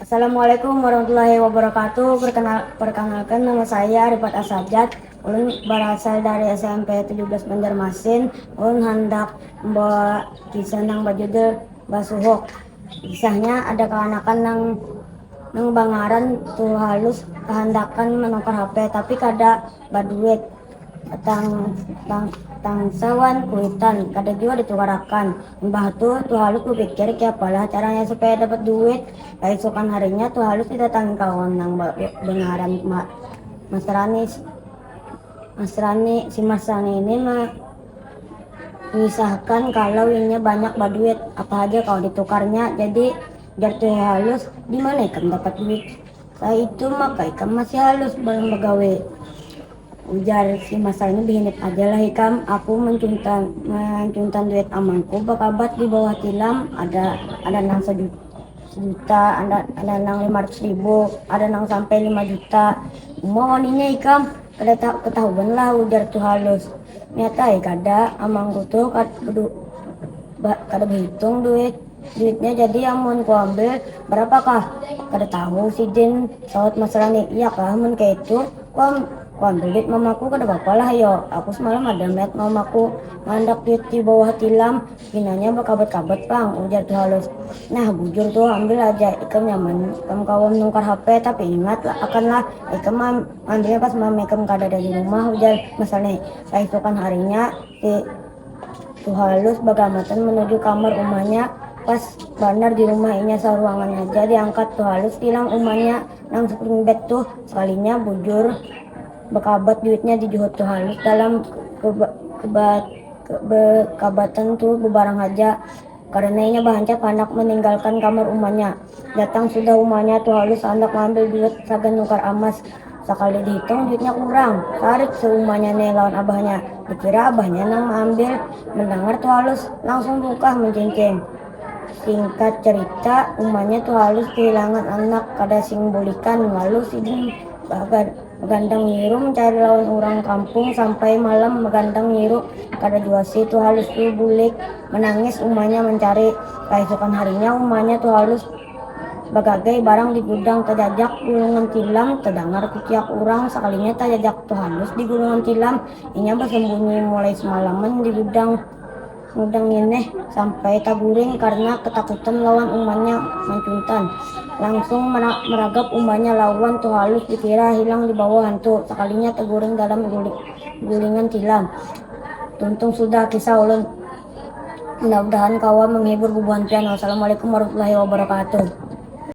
Assalamualaikum warahmatullahi wabarakatuh perkenalkan nama saya Rifat Asajat ulun berasal dari smp tujuh belas Banjarmasin ulun handak membawa kisah nang berjudul basuhuk. Kisahnya, ada kakanakan nang nang bangaran Tuh Halus kahandakan manukar HP tapi kada baduit. Tang, tang, tangsa wan kuitan, kada jua ditukarakan. Imbah tu, Tuh Halus bapikir kiapalah caranya supaya dapat duit. Kaisukan harinya, Tuh Halus didatangi kawan nang bangaran Mas Rani. Mas Rani, si Mas Rani ini ma, Misalkan kalau inya banyak baduit, apa haja kawa ditukarnya. Jadi, jar Tuhe Halus, di mana ikam dapat duit kaitu maka ikam masih halus balang bagawi. Ujar si Masal ni, bihinip aja lah ikam, aku mancuntan, mancuntan duit amanku bakabat di bawah tilam ada, ada nang sajuta. sejuta ada ada nang lima ratus ribu ada nang sampai lima juta mau waninya ikam kada tahu ketahuan lah ujar tuh halus nyata ya kada amangku tuh kada bedu, ba, kada berhitung duit duitnya jadi amun ku ambil berapakah kada tahu sidin sahut mas rani iya kah amun kayak itu ku, am, ku ambil duit mamaku kada apa-apa lah yo aku semalam ada melihat mamaku mandak duit di bawah tilam Pinanya bakabut-kabut pang, ujar Ki Halus. Nah, bujur tuh, ambil aja. Ikam nyaman ikam kawa menukar hape, tapi ingat akan lah, ikam maambilnya pas mama ikam kadada di rumah, ujar Mas Sani. Kaisukan harinya, si Tuhalus bagamatan menuju kamar umanya, pas banar di rumah inya saruangan haja diangkat Tuhalus tilam umanya nang spring bed tuh. Sekalinya bujur. Bakabat duitnya di Juhud tu halus dalam kebakabatan tu bebarang haja karena inya bahancap handak meninggalkan kamar umanya. Datang sudah umanya tu halus handak maambil duit sagan nukar amas. Sakali dihitung duitnya kurang. Tarik se umanya ne lawan abahnya. Dikira abahnya nang maambil. Mendangar tu halus langsung bukah mencincing. Singkat cerita umanya tu halus kehilangan anak kada sing bulikan lalu sidin bagan. Magandang nyiru mancari lawan urang kampung sampai malam magandang nyiru kada jua si Tuhalus tu bulik manangis umanya mancari kaisukan harinya umanya Tuhalus bagagai barang di gudang tajajak gulungan tilam tadangar kuciak urang sakalinya tajajak Tuhalus di gulungan tilam inya basambunyi mulai samalaman di gudang Nudang ngeneh sampai taguring karna katakutan lawan umanya mancuntan. Langsung maragap umanya lawan tuhalus dikira hilang dibawa hantu. Sakalinya taguring dalam gulingan tilam. Tuntung sudah kisah ulun. Mudah-mudahan kawa manghibur bubuhan pian. Wassalamualaikum warahmatullahi wabarakatuh.